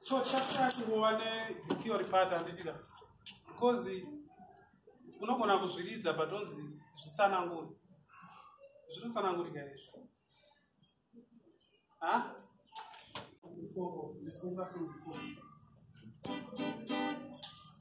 so chapter chingova netheory part handitira because unogona kuzviridza but onzi zvitsananguri zvinotsanangurika izvi ha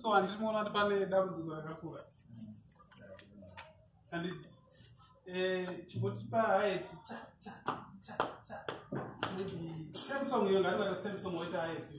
so handiri muona kuti pane dambudziko rakakura and eh, chikotipa haiti samsong iyo ngatata samsong waita haiti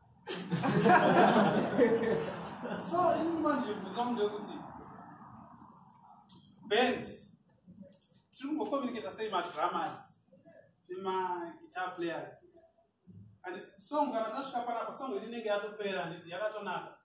so ini manje bvunza munhu wekuti band tiri kungocommunicata sei madramas nemaguitar players anditi song kana ndasvika panapa song iri inenge yatopera handiti yakatonaka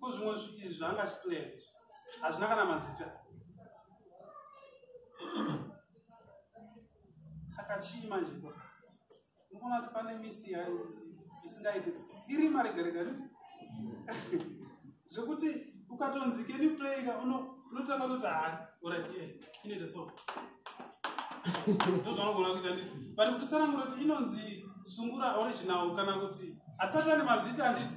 ko zvimwe izvi zvaanga achiplaya izvi hazvina kana mazita saka chii manje ko ndikuona kuti pane misi isingaite iri marega rega ni zvekuti ukatonzi keni playika unotanga kuti haa orati e inoita so ndozvanogona kuita ndi but kutitsanangura kuti inonzi sungura original kana kuti asati ane mazita anditi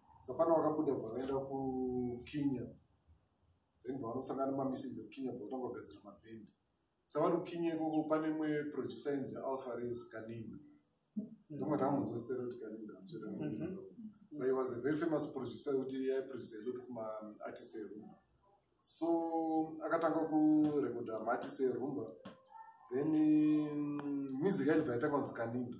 sapana vakabuda bva vaenda kukinya then bvavanosangana mamisins ekukinya bva vatanga kugadzira mabhendi savari kukinya ikoko pane imwe producer inzi alfares kaninga ndomwe tamunzwa zita rekuti kaninga amuchada mhm. so he was a very famous producer yekuti aiproducer a lot of maartist erumba so akatanga kurekoda maartist erumba then mm, music yacho bva yatanga kunzi kaninga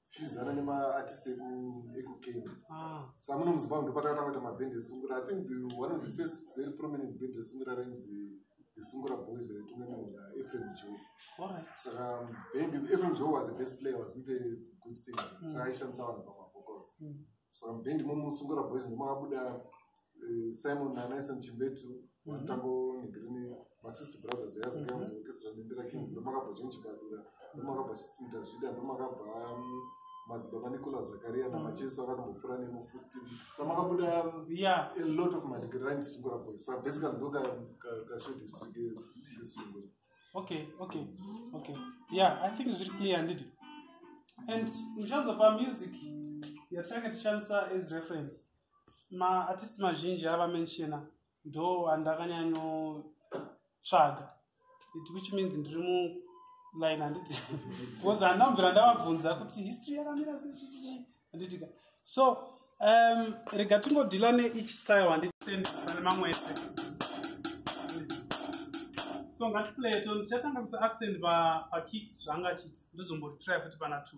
fusana nemaartist ekukenya ah. sa muno muzimbabwe ndopatakatanga kuita mabhend esungura i think the, one of the first very prominent bhend resungura rainzi isungura boys retume muna efrem jo saka bhend efrem jo was the best player was not a good singer mm. saka aishandisa vanhu pamavocals mm. saka mubhend momusungura boys ndomakabuda eh, simon nanaison chimbetu mhm. vanotambo nigrini masist brothers yazikanzi mhm. orchestra dendera kings ndomakabva john chibadura ndomakabva sisita zvida ndomakabva mm, madzibaba nicola zakaria namacheso mm. akatombopfura nemo futi samakabuda mm, a lot of manigirini sungura boys sa basically ndo kasvedisrike kesungura okay okay okay yeah i think zviri clear handiti and muchanzopa music yatinenge tichandisa as reference maartist mazhinji ava menshena ndo andakanyanyotsvaga it which means ndiri mu line handiti bcause handambvira ndavabvunza kuti history yakamira sechii handitika so um, rega tingodhila neeach style handitendane mamwe ese so ngatiplay to ndichatanga kusa accent pakik zvanga chiti ndozombotry futi pana two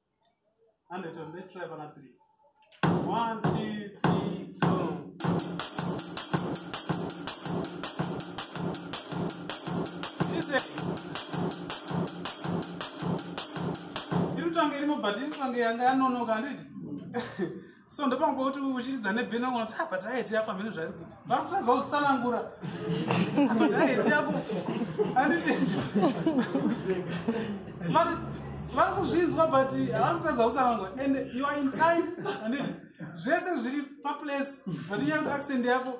Undertone, let's try pana three. One, two, three, go. Listen. Irutange rimwe but irutange yanga yanonoka handiti? so ndopanga kuti uchiridza nebheni vangu vati apa taiti yako amene zvari kuti vakusadza kuzvitsanangura apa taiti yako anditi vari kuzvinzwa but havasi kutadza kutsanangura and you are in time anditi zvese zviri paplace but inyanga accent yako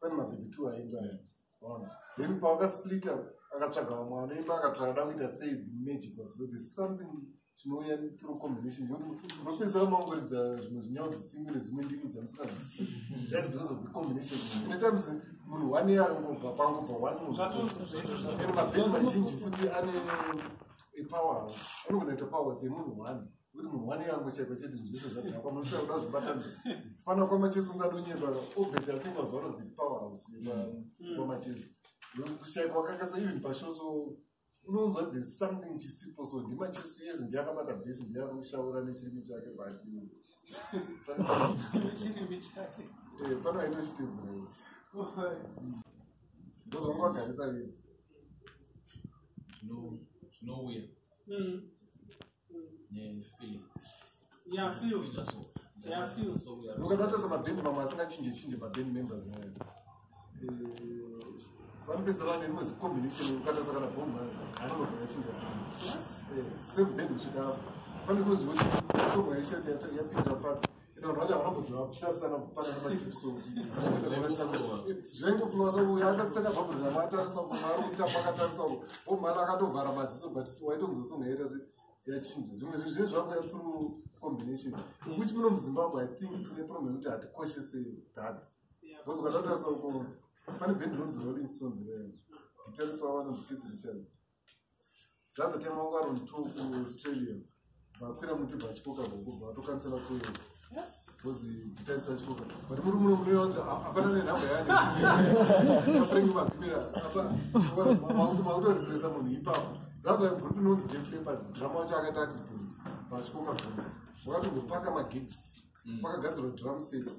pane mabhibhi two aimba ona then pawakasplita akatsvaga vamwe anoimba akatsvaga da kuita sei the magic was but there's something chinouya through combination unopedzisira mangoridza zvimwe zvinyawo zvisingi nedzimwe ndimi dzamusingazvisi just because of the combination many times munhu one year arikungobva pangobva one and mabheni mazhinji futi ane power house anogona ita power house yemunhu one uri munhu wane yangu chaiko chete zvese zvadhakwa munoita kuda zvibatani fana kwamacheso nzadonyeba obet i think was one of the power house kwamacheso kushaikwa kaka so even pasho so unonzwa there's something chisipo so ndimacheso yes ndiye akabata bhesi ndiye akushaura nechirimi chake but chirimi chake eh pano ainochitedzera yes ndozvanga wagarisa vese zvinouya ukatotaza mabhendi mamwe asingachinje chinje mabhendi members ayo eh, vanopedza vane rimwe zicombination ukataza kana bomba anogona chinja bhendi eh, same bhendi kusvika afa pane kuzivo song yaishati yapindira papi vanhu vacho havana kudya kutarisana kupanana machipsozvengoflowa sauya akatseka zvakudya matarisa ku maari kutamba akatarisa ku omhana akatovhara maziso but waitonzosongaita se yachinja zvimwe zvinhu zviye zvakuya through combination ukuti muno muzimbabwe i think tine problem yekuti hatikoshese dad because ukatatarisa uko pane bhendi ronzi rolling stones ree guitarist wavo anonzi kid richards zvazotemwa ngo around two kuaustralia vakwira muti bachikoka boko vatokansela kuesa because guitar is such problem but muri muno munoyodza hapana nenhamba yaneafrengi makwira apa makutorefresa munhu ipapo that's why group inonzi deflepa drama wacho akaita accident vachikoka boko wakatongopaka magigs pakagadzirwa drum sets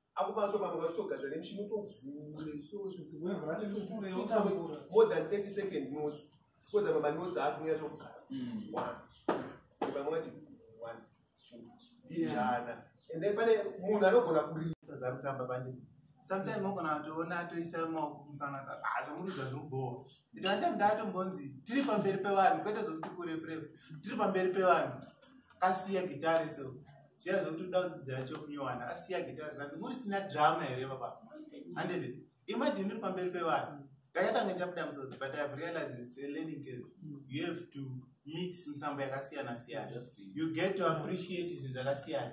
apo pato vamwe vachitogadzva nemushini utovhure more than 30 second notes because apa manotes aakunyaya zvokugara mm. one vamwe vati one two ijana and then pane munhu anogona kuridza dzakutamba pandii sometimes mogona atoona atoisa maoko kumusangana hazvo muridza zvinobhowa ndikatoita ndatombonzi tiri pamberi pevanhu kwete zvokuti kurefurefura tiri pamberi pevanhu kasiya gitari so zviya zvekuti uda kudzidzira chokunyuwana asiya gita zvikanzi muri tina drama here baba handizvi imajini uri pamberi pevanhu ndakatanga chabuda musodzi but ihave realized its a learning curve you have to mix misambo yakasiyana siyana you get to appreciate zvinhu zvakasiyana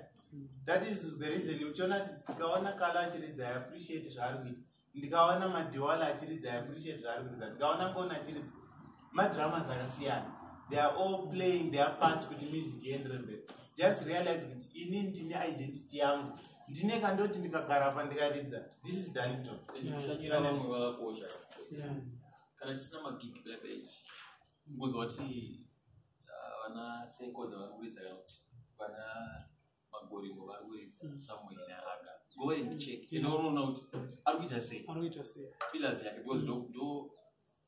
that is the reason uchiona kuti tikaona kala achiridza i appreciate zvaari kuita ndikaona madhiwala achiridza i appreciate zvaari kuridza ndikaona ngona achiridza madramas akasiyana they are all playing their part kuti music iendere mberi just realize kuti ini ndine identity yangu ndine kandoti ndikagara pa ndikaridza this is darlington kushanyira vamwe vakakosha kana tisina magigi pepage ngozi wati ah, vana sekodza vari kuridza kana kuti vana magorimo vari kuridza mm. samueri neaga go and check ende unoona kuti ari kuita sei ari kuita sei pillars yake because ndo ndo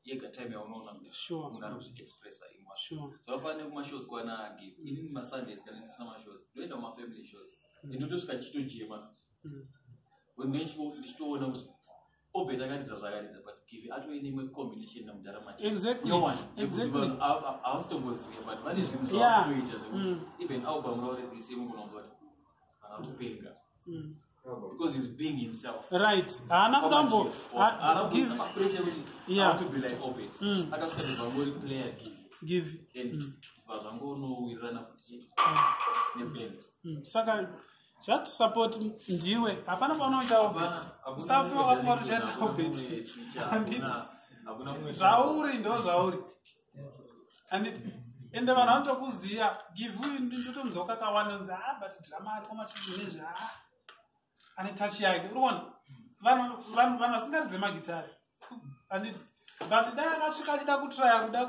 yega time yaunoona kuti munhu ari kuzviexpressa imwa so vafanire kumashows kwana give mm. inini masundays kana ndisina mashows ndoenda kumafamily shows mm. ende ndotosvika ndichitojema wemene ndichitoona kuti obet akaridza zvaakaridza but give atove neimwe combination namudhara macheausitomboziva but vane zvinhu zvavakutoita zvekuti mm. even aubamuraure this year mukunonzwa kuti vana kupenga mm. because he's being himself right haana kutambo haanakupressure kuti yeah. to be like obet mm. akasvika ndivangori player give give and mm. vazvangonowirirana futi neband saka just to support ndiwe hapana paunoita obet usafunga wafunga kuti uchaita obet zvauri ndo zvauri anditi ende vanhu vanotokuziva give you ndotonzwa kakawanda nzi ha ah, but drama ariko machizvinezvi ha ah, ane touch yake uri kuona vanhu vasingaridze magitare anditi but dai akasvika achida kutraya kuda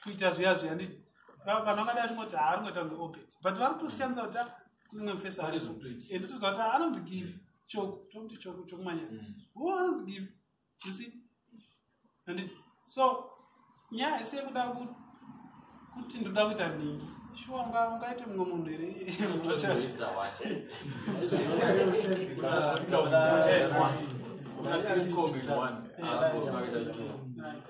kuita zviya zviya nditi vanhu vangada vachingoti haari kuita kunge obet but vari kutosiyanisa kuti kunenge mufesa ari and toziva kuti anonzi give choku tokuti choku chokumanya mm. wo anonzi give you see anditi so nyaya haisi yekuda kuti ndoda kuita nhingi shuwa ungaite mumwe munhu here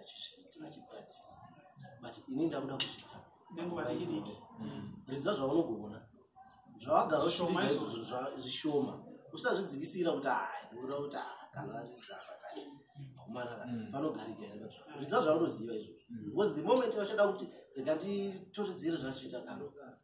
achizviita achipractisa but ini ndakuda kuzviita nenguva dikidiki mm. ridza zvaunogona zvawagara uchiita izvozvo zvishoma usazvidzikisira kuti hai uda kuti ah, kana ridza zvakati kumana kana mm. panogarika here pazvo ridza zvaunoziva izvozvo mm. because the moment vachada kuti rega nditoridzire zvachiita kana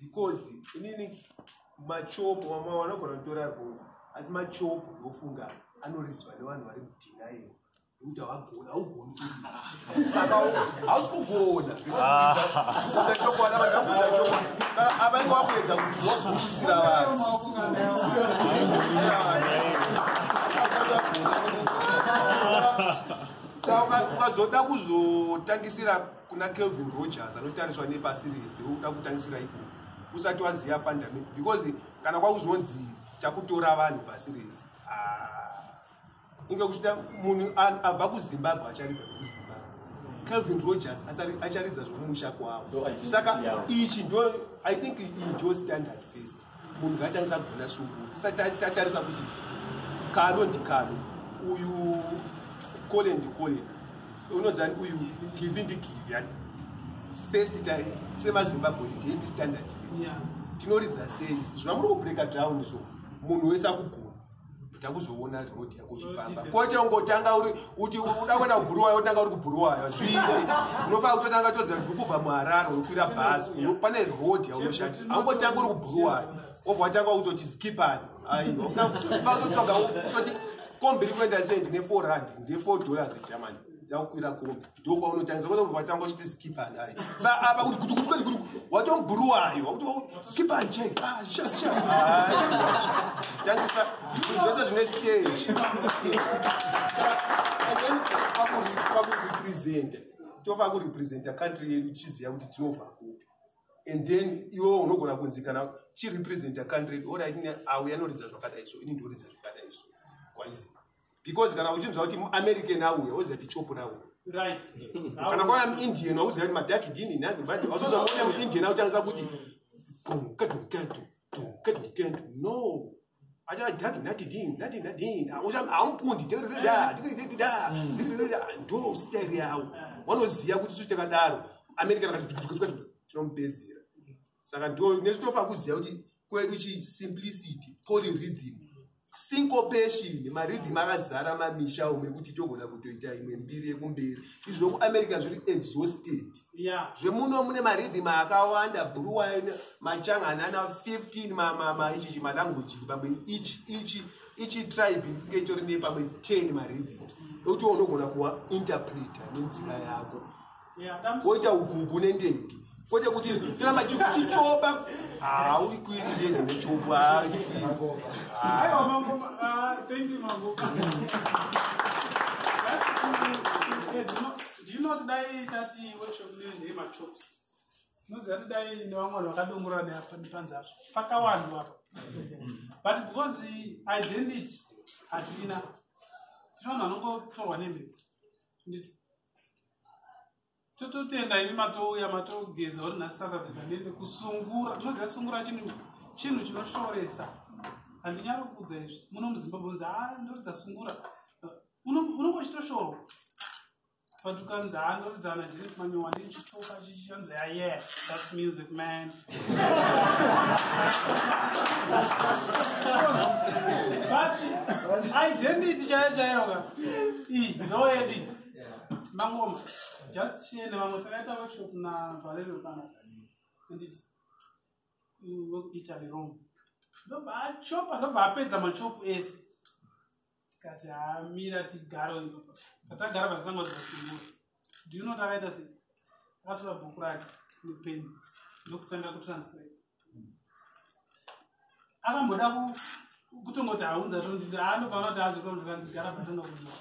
because inini machopo vamwe vanogona kutora roo asi machopo ndofunga anoridzwa nevanhu vari mudhinayo nekuti havagona haugoni saka hausi kugona kuudza chokwadi vanhu vakuudza chokwadi saka avange vakuedza kuti wavhundudzira vanhu saka ukazoda kuzotangisira kuna kelvin rogers anotariswa nepasi rese uda kutangisira iko usati waziva fundament because kana kwakuzonzi takutora vanhu pasi rese ah. inge kuchita munhu abva kuzimbabwe acharidza kuzimbabwe kelvin rogers acharidza zvomumusha kwavo saka ichi ndo i think indo standard first munhu ngaatangisa kugona sungura tisati tatarisa kuti kado ndikado uyu kole ndikole unodzani uyu givi ndigivi ati first time semazimbabwe ndihepi standard tinoridza sei zvamuri kubreka down izvo munhu wese akugona takuzoona road yako uchifamba kwete ungotanga uri kuti uda kuenda kubhuruwayo otanga uri kubhuruwayo zvinzi unofana kutotanga toziva kuti kubva muharare unokwira bhazi pane road yaunoshandi aungotanga uri kubhuruwayo obva watanga kutoti skipani aiofana kutotsvaga utoti kombi ri kuenda sei ndine four rand ndine four dollars egermany ndakukwira kombi ndokwaunotangisa kwete kubva vatanga uchiti skip and i sa apa kuti kuti kuti kuti watomburuwayo wakuti skip and check ah sha sha tangisa zvese zvine stage and then pakurepresenta tofa kurepresenta country yedu chiziva kuti tinobva kupi and then iwo unogona kunzi kana chirepresenta country yedu orit auya anoridza zvakadai so ini ndoridza zvakadai so kwaizi because kana uchinzwa kuti muamerican auya oziva kuti chopo rauya kana kwaya muindian wauziva kuti madhaki dini nagi badi wazoza muone muindian auchanisa kuti dunkadunkadu dunkadunkadu no achadhaki nati dini nati nadini amukundi tiridida tiridida tiridida ndo style yavo wanoziva kuti suti takadaro american akati tinomupedzera saka ndo nesitofa kuziva kuti kwedu chi simplicity polyrhythm syncopation marhythm akazara mamisha ume kuti togona kutoita imwe mbiri yekumberi izvi zvekuamerica zviri exhausted zvemuno mune marhythm akawanda bruwine machanga anana 15 mamamaichichi malanguages pamwe ichi ichi ichi tribe inge itori nepamwe 10 marhythms ekuti unogona kuwa interpreter nenzira yako woita ukuku nendege kwete kuti tiramba chichichoba haui kuiri ndege nechobo ndinoti dai tati workshop nende machops ndinoziva kuti dai nevamwe vanhu vakadongorora neapanzazvo pakawanhu apa but because identity hatina tino vanhu vanongotorwa nemhepo tototenda ini matouya matogeza uri nasakabika nende kusungura tinoziva sungura chinhu chinhu chinoshoresa handinyari kuudza izvi muno muzimbabwe unzi haa ah, ndoridza sungura unongo chitoshorwa but ukanzi haa ah, ndoridza ana jiri kumanyowa ndichichoka chichianzi a ah, yes thats music man identity chaiyo chaiyo ka iyi no yedi mangoma just chiende vamwe takaita workshop na valerio kana anditi wekuitaly rome ndobva achopa ndobva apedza machopu ese tikati hamira tigaro katagara pakatanga dzasungura do you know takaita sei akatora bhuku rake nepeni ndokutanga kutranslate akamboda kutongoti haunza tondii anofana kuti azvikonzvikanzigara patanga kudiwa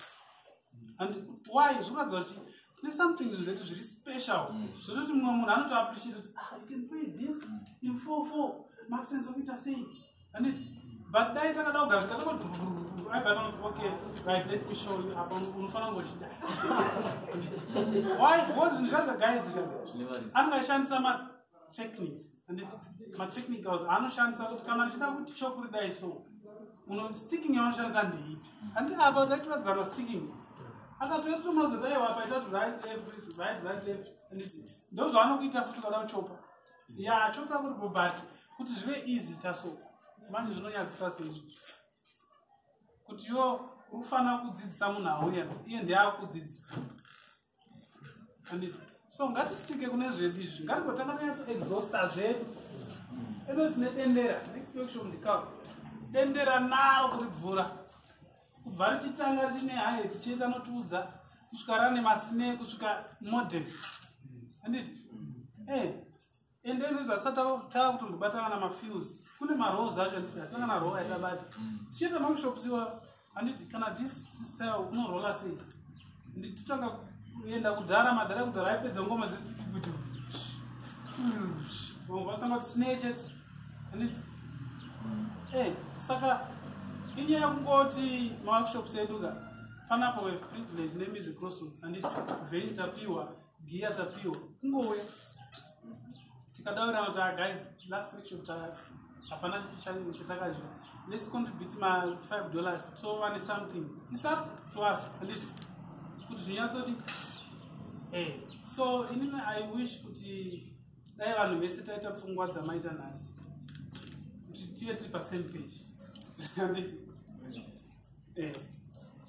and why zvikuratidza kuti kune something zvinhu zvedu zviri special mm. zvototi mumwe munhu anotoappreciate kuti ah, you can play this mm. in four four maxence okuita sei handiti but dai takada kugara takangoti okay right let me show you apa unofanira ngochida why because ndikaza guys angashandisa ma techniques handiti matechnicals anoshandisa kuti kana ndichida kuti chokuri dai so uno sticking yanoshandisa ndeipi handi apa taitotadzana sticking akatoetomazodaewapa itato right left right right left ndozvaanokuita futi kana uchopa ya chokuda kuti bobati kuti zvive easy taso manje zvinonyadzisa seizvi kuti yo ufanira kudzidzisa munhu auya iye ndeakudzidzisa anditi so ngatisitike kune zvedu izvi ngatigotanga tanyatso exhausta zvedu ino tine dendera next workshop ndikao dendera naro kuribvura kubva richitanga rine haye tichiita anotiudza kusvika rane masine kusvika modern anditi eh, ende ende zvasati tava kutombobatana na mafiels kune marows acho anditi atanga na row yatabata tichiita makushops iwa anditi kana this style unorola sei nditotanga kuenda kudhara madhara kudhara aipedza ngoma dzekuti vamwe vatanga kuti snatches anditi e saka inyaya kungoti maworkshops eduka fanapo weprivilege nemusic crossroads anditi venyu tapiwa giya tapiwa kungouya tikadaurirana kuti ah, guys last week shop hapana chatakazva let's contribute ma five dollars so vane something its up to us at least kuti zvinyatsodi e eh, so inini i wish kuti dai vanhu vese taita pfungwa dzamaita nhasi kuti tive tiri pasame page eh,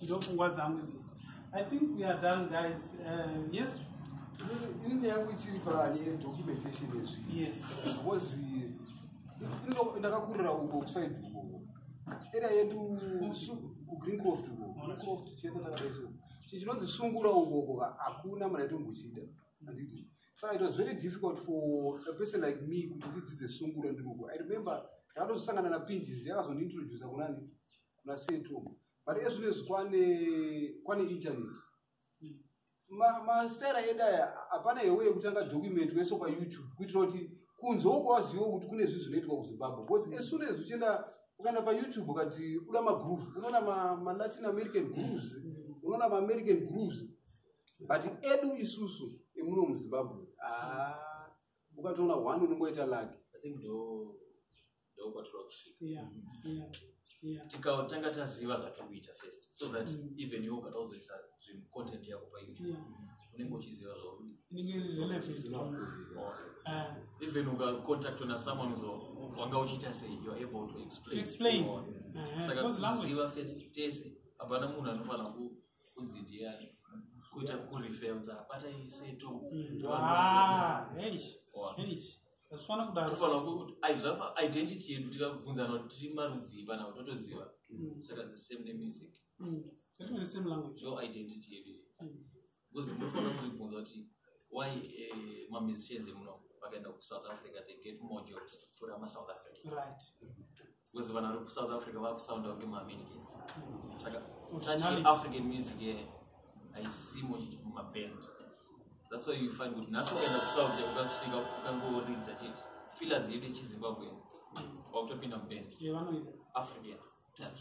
ndopfungwa dzangu izvozvo i think we are done guys uh, yes ini nyaya yangu ichiri panye documentation ezvi yes because ndakakurira uko kusaid uko era yedu kugreen croft uko green croft chete takadaiso chichinonzi sungura ukoko hakuna mari aitombochida handiti so it was very difficult for a person like me kuti ndidzidze sungura ndiruko i remember ndakatozosangana napinjis ndiakazondiintroducer kunani kuna setum but ezvino izvi kwane kwane internet mastaira edu aya hapana hewe yekutanga document weso payoutube kuitira kuti kunzwawo kwawaziva kuti kune zvi zvinoitwa kuzimbabwe because as soon as uchienda ukaenda payoutube ukati uda magroove unoona malatin american grooves unoona maamerican grooves but edu isusu emuno muzimbabwe ah, ukatoona one unongoita lake ndokwatiri kusvika yeah. yeah. yeah. tikatanga taziva zvatiri kuita first so that mm. even iwe ukada kuzoisa zvinhu content yako payoutube yeah. unenge uchiziva zvaurieven ah. ukacontactwa nasomeone so wanga uchiita sei youare able to explain uh-huh. saka kuziva first tese hapana munhu anofanira kunzi ndiani kuita kureferenza abata iseto mm. hazvifanira kudaro tofanira kuti ai zvafa identity yedu tikabvunzana kuti tiri marudzii pana kuti totoziva Mm. saka the same nemusic Mm. Yatova the same language. your identity yedu iyi. Mm. because munofanira kuzvibvunza kuti why eh, mamusicians emuno vakaenda kusouth africa they get more jobs kupfuura masouth africa Right. because vanhu vari kusouth africa vakusounda kunge maamericans saka touch african music ye haisi mumaband that's why you find kuti nhasi ukaenda kusouth ukasvika ukangoridza chete fillers yedu yechizimbabwe wakutopinda muband african touch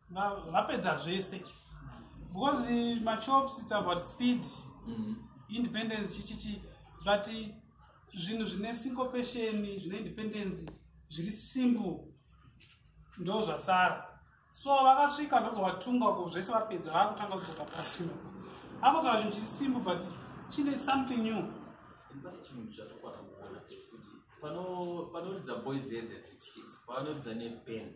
vapedza zvese because machops it's about speed mm. independence chichichi but zvinhu zvine syncopation zvine independence zviri simple ndo zvasara so vakasvika ndozovatunga ko zvese vapedza vakutanga kudzoka pasi akutaura chinhu chiri simple but chine something new panoridza boys eze tipskits panoridza neband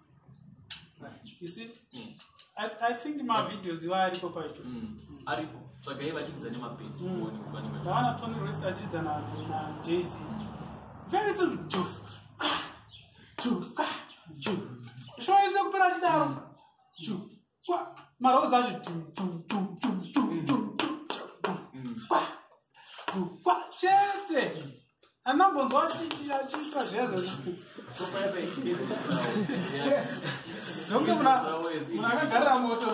you see mm. I, i think mavideos iwa aripo pacho mm. mm. aripo tsvagai vachiridza nemapendi ndawana tony rest achiridza najz mm. very soon ju ah, ju ah, ju shoese kupera chidaro ju marozi acho kwa chete anambonzwa achiita zvezvonge munhu akagarira moto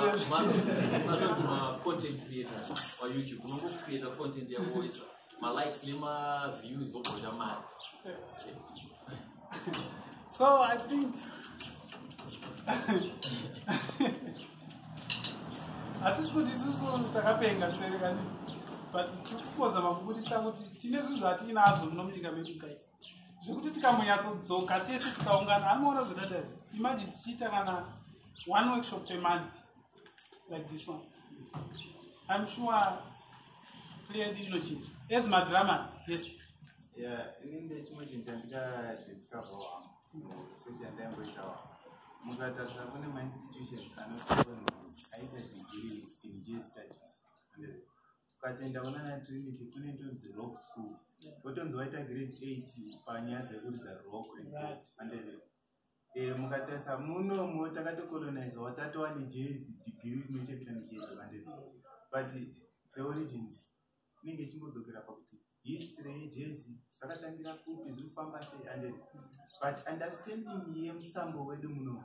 malikes nemaviews vobhoita mari so i think hatisi kuti isusu takapenga serekani but tikukozama kubudisa kuti tine zvinhu zvatiinazvo muno munyika medu guys zvekuti tikamboyatsodzoka tese tikaungana anoona zvedadari imagine tichiita kana one workshop pemonth like this one i'm sure played inochinja as madramas yes yeah ini ndechimochinja ndikadiscover wam sechandaimboita wam mukatarisa kune mainstitutions anotioni aita degree in j studies ukatenda kuna na trinity kune ndonzi rock school wotonzi waita grade eight panyaya dzekuridza rock and Eh, mukatarisa munomo takatocolonizewa tatova nejezi digiri rinochetera nejezi vandiri but the origins inenge ichingodzokera pakuti history yejezi zvakatangira kupi zviri kufamba sei and but understanding yemusambo wedu muno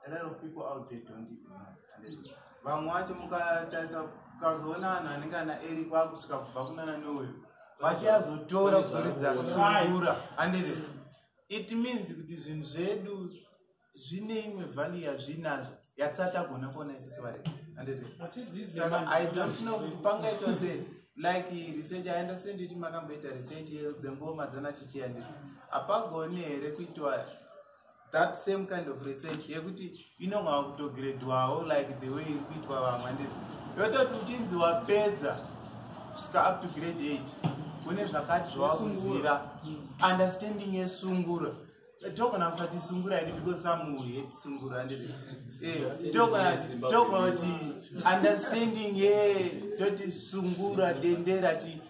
a lot of people out there don't even know vamwe wacho mukatarisa ukazoona vanhu anenge ana eri kwakusvika kubva kunana nowe vachiazotora kuzoridza sungura andiri it means kuti zvinhu zvedu zvine imwe value yazvinazvo yatisatagona kuona isu sevarei i don't know kuti pangaitwa sei like research i understand kuti makamboita research dzengoma dzanachichiya ndizvo hapagoni here kuitwa that same kind of research yekuti inonga wakutogredwawo like the way iri kuitwa vamwe handiti yototi uchinzi wapedza kusvika up to grade eight kune zvakati zvawakuziva understanding yesungura togona kusati sungura yedi because some will hate sungura handiti eh, togona kuti understanding ye toti sungura dendera chii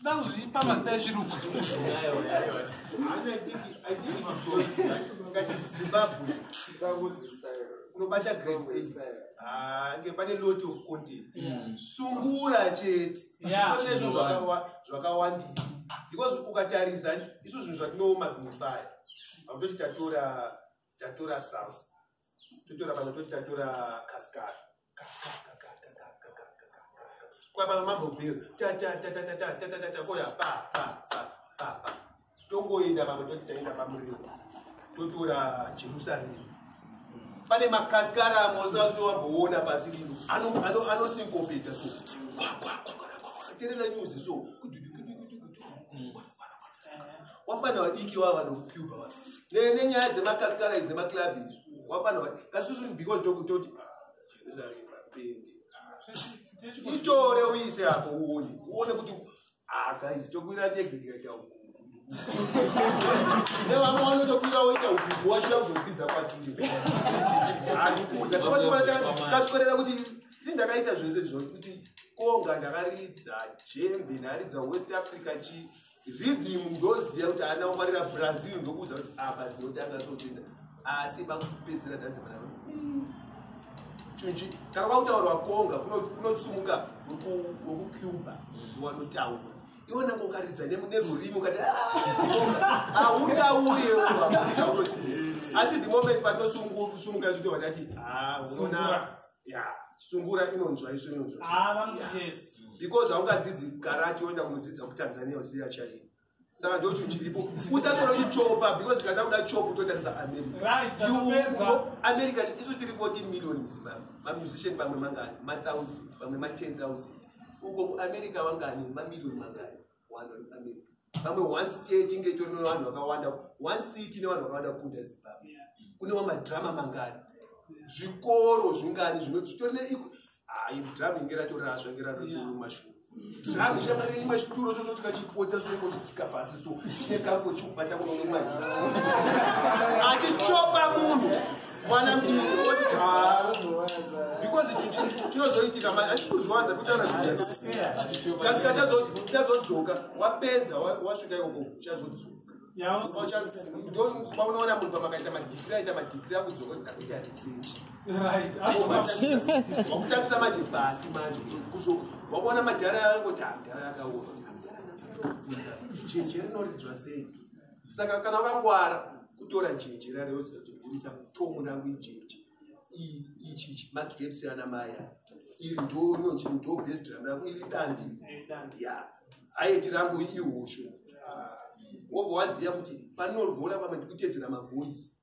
ndakuzvipa mazita echirungu unobata grange pane lot of content hmm. sungura chete zvakawandisa because ukatarisa isu zvinhu zvatinooma zvinofaya vakutoti tatora tatora south totora pano toti tatora kaskar kwapano mambobir koya pa pa pa pa pa tongoenda pamwe toti taenda pamuriwo totora jerusaremu pane makaskara amwe usazve wamboona pasi rino anosinkopedza so terera nyuzi so kududukudukudukudu wafana vadiki wava nokucuba wa nenyaya dzemakasikara idzi dzemaklabi izvi wafana vadiki kasusu because tokutoti ah, jerusalem apende itore uise apo uone uone kuti akaizi ah, tokuira ndege tikaita uku nevamwe vanotokwira woita uku wachida kuzodzidza kwatiri handikuudza kasikorera kuti ini ndakaita zvese zvo kuti konga ndakaridza jembe ndaridza west africa chii rhythm ndoziva kuti haana kungwarira brazil ndokuudza kuti apa ndinotanga totenda asi vakupedzera dhanzi vana chunji kana kwakutaurwa konga kunotsumuka wekucuba wanotaura iwe nanga ukaridza nerurimi ukati hautauri ah, asi the moment panosumuka zvito vadati ah, unoona yeah sungura inonzwa isu inonzwa ah, because haungadzidzi garachi woenda kunodzidza kutanzania usiya chaiyo saka ndocho chiripo usasoro chichopa because kana kuda chopu totarisa americaamerica isu tiri 14 million muzimbabwe mamusician pamwe mangani mathousand pamwe ma 10 thousand uko kuamerica wangani mamillion mangani pamwe one state inge itori nevanhu vakawanda one city ine vanhu vakawanda kukunda zimbabwe kune wamadrama mangani zvikoro zvingani zvitori nedrama inge ratorasva inge ratotomashuo drama ichamari imwe chituro chocho chikachipota soiko chitika pasi so chine kafo chikubata kunonomazi achichopa munhu mwana mdii oti haa because ichi chinozoitika mai achiti kuzviwanza kutaura kutikasi ka chazodzoka wapedza wasvika ikoko chazodzoka paunoona munhu pamakaita madhikiri aita madhikiri akudzoka kuti ndakuita research wakutangisa manje basi manje wakuona madhara yako kuti hamdhara yakaona hamdhara chinhu cherinoridzwa sei saka kana vakangwara kutora jeje rareuza kuti gurisa tomu nangu ijeje ichi ichi magreps ana maya iri ndo inonzi ndo best drum rako iri dandi ya aiti rangu ihushu wobva waziva kuti panorwora pamwe ndikutedzera mavoice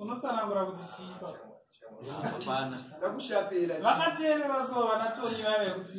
unotsanangura kuti chiipa vakateerera so vana tony vave kuti